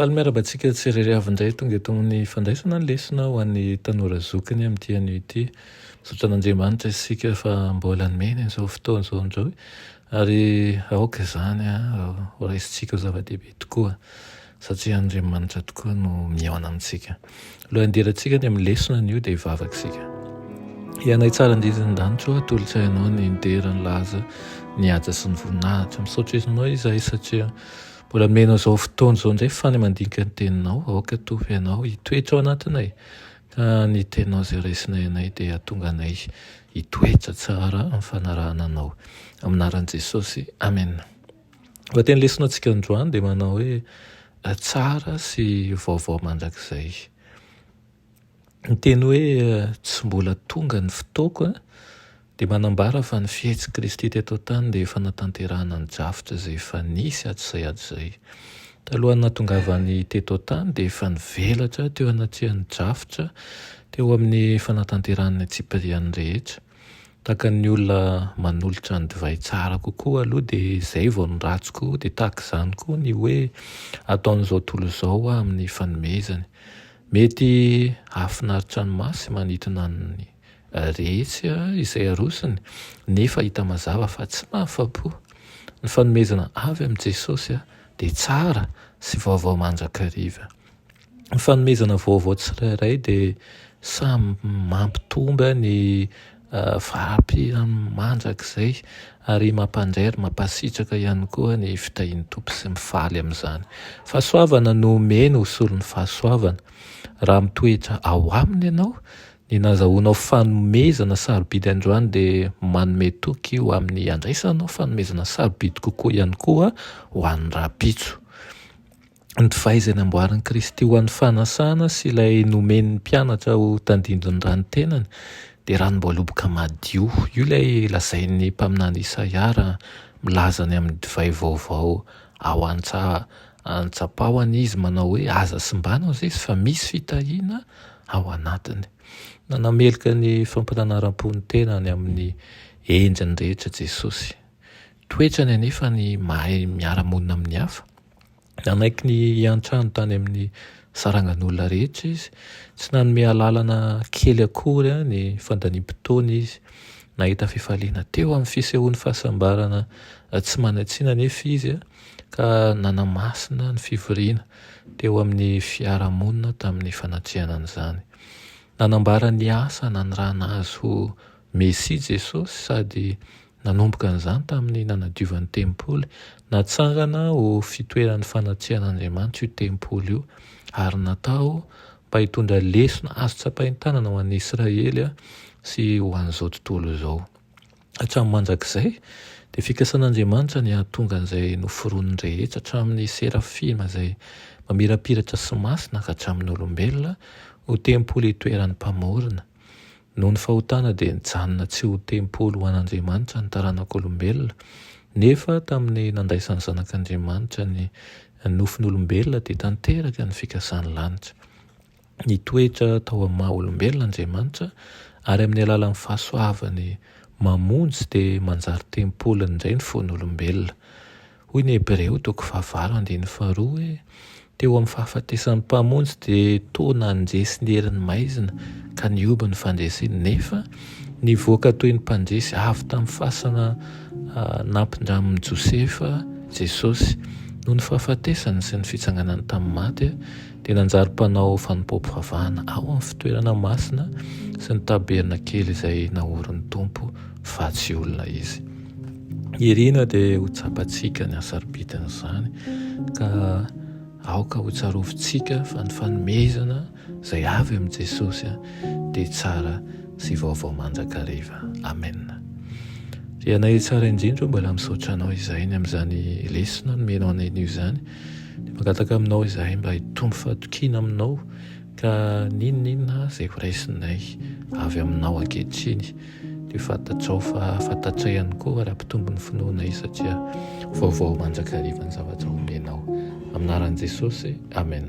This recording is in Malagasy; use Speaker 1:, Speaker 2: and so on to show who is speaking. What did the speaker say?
Speaker 1: Faly miarahaba antsika tsy irery avy indray tonga eto amin'ny fandraisana ny lesona ho an'ny tanora zokiny amin'ity anio ity. Misaotra an'Andriamanitra isika fa mbola nomeny an'izao fotoana izao indray ary aoka izany ho raisintsika ho zava-dehibe tokoa satria Andriamanitra tokoa no mihaona amintsika. Alohan'ny hidirantsika any amin'ny lesona anio dia hivavaka isika. Ianay tsara indrindra ny danitro, atolotro ianao ny dera, ny laza, ny haja sy ny voninahitra. Misaotra ianao izahay satria Mbola mino izao fotoana izao indray fa ny mandinika ny teninao aoka hitovy anao hitoetra ao anatinay ka ny teninao izay raisinay anay dia hatonga anay hitoetra tsara amin'ny fanarahana anao amin'ny anaran'i Jesosy Amen. Lohateny lesona antsika androany dia manao hoe tsara sy vaovao mandrakizay. Ny teny hoe tsy mbola tonga ny fotoako dia manambara fa ny fihetsik'i Kristy teto an-tany dia efa natanterahana ny drafitra izay efa nisy hatrizay hatrizay. Talohan'ny nahatongavany teto an-tany dia efa nivelatra teo anatrehan'ny drafitra teo amin'ny fanatanterahan'ny antsipiriany rehetra. Tahaka ny olona manolotra ny divay tsara kokoa aloha dia izay vao ny ratsy koa, dia tahaka izany koa ny hoe ataon'izao tontolo izao amin'ny fanomezany. Mety hahafinaritra ny maso sy manintona ny rehetra izay arosony, nefa hita mazava fa tsy mahafa-po. Ny fanomezana avy amin'i Jesosy dia tsara sy vaovao mandrakariva. Ny fanomezana vaovao tsirairay dia samy mampitombo ny. Faapy amin'ny mandrakizay ary mampandray ary mampasitraka ihany koa ny fitahian'ny Tompo sy mifaly amin'izany. Fahasoavana no omeny ho solon'ny fahasoavana. Raha mitoetra ao Aminy ianao, ny nazahoanao fanomezana sarobidy androany dia manome toky ho amin'ny handraisanao fanomezana sarobidy kokoa ihany koa ho any rahampitso. ny divay izay namboarin'i Kristy ho an'ny fanasana sy ilay nomen'ny mpianatra ho tandindon'ny ran'ny tenany dia ranom-boaloboka madio. Io ilay lazain'ny mpaminany Isaia raha milaza ny amin'ny divay vaovao ao an-tsapahany izy manao hoe, Aza simbana hozizy fa misy fitahiana ao anatiny. Nanameloka ny fampiranaram-po ny tenany amin'ny endriny rehetra Jesosy. Toetrany anefa ny mahay miara-monina amin'ny hafa. Nanaiky ny hiantrano tany amin'ny sarangan'olona rehetra izy. Tsy nanome alalana kely akory ny fandaniam-potoana izy. Nahita fifaliana teo amin'ny fisehoan'ny fahasambarana tsy manan-tsiny anefa izy ka nanamasina ny fivoriana teo amin'ny fiarahamonina tamin'ny fanatrehana an'izany. Nanambara ny asa nanirahana azy ho Mesia Jesosy sady Nanomboka an'izany tamin'ny nanadiovany tempoly, natsangana ho fitoeran'ny fanatsiahan'Andriamanitra io tempoly io, ary natao mba hitondra lesona azo tsapain-tanana ho an'i Israely sy ho an'izao tontolo izao. Hatramin'ny mandrakizay, dia fikasan'Andriamanitra ny hahatonga an'izay noforoniny rehetra, hatramin'ny serafima izay mamirapiratra sy masina ka hatramin'ny olombelona, ho tempoly itoeran'ny Mpamorona. Noho ny fahotana dia nijanona tsy ho tempoly ho an'Andriamanitra ny taranak'olombelona, nefa tamin'ny nandraisan'ny Zanak'Andriamanitra ny nofon'olombelona dia tanteraka ny fikasan'ny lanitra. Nitoetra tao amin'ny maha olombelona Andriamanitra ary amin'ny alalan'ny fahasoavany mamonjy dia manjary tempoly indray ny fon'olombelona. Hoy ny Hebreo toko fahavalo andininy faharoa hoe, Teo amin'ny fahafatesan'ny Mpamonjy dia toa nandresy ny herin'ny maizina ka nihoby ny fandresiny, nefa nivoaka toy ny mpandresy avy tamin'ny fasana nampindramin'i Josefa Jesosy. Noho ny fahafatesany sy ny fitsanganany tamin'ny maty, dia nanjary mpanao fanompoam-pivavahana ao amin'ny fitoerana masina sy ny tabernakely izay naorin'ny Tompo fa tsy olona izy. Irina dia ho tsapantsika ny hasarobidian'izany ka aoka ho tsarovintsika fa ny fanomezana izay avy amin'i Jesosy dia tsara sy vaovao mandrakariva. Amen. Ry anay tsara indrindra, mbola misaotra anao izay ny amin'izany lesona nomenao anay anio izany. Dia mangataka aminao izahay mba hitombo fahatokiana aminao ka n'inon'inona izay ho raisinay avy aminao ankehitriny dia fantatrao fa fantatray ihany koa raha mpitombo ny finoanay satria vaovao mandrakariva ny zavatra omenao. Amin'ny anaran'i Jesosy, Amen.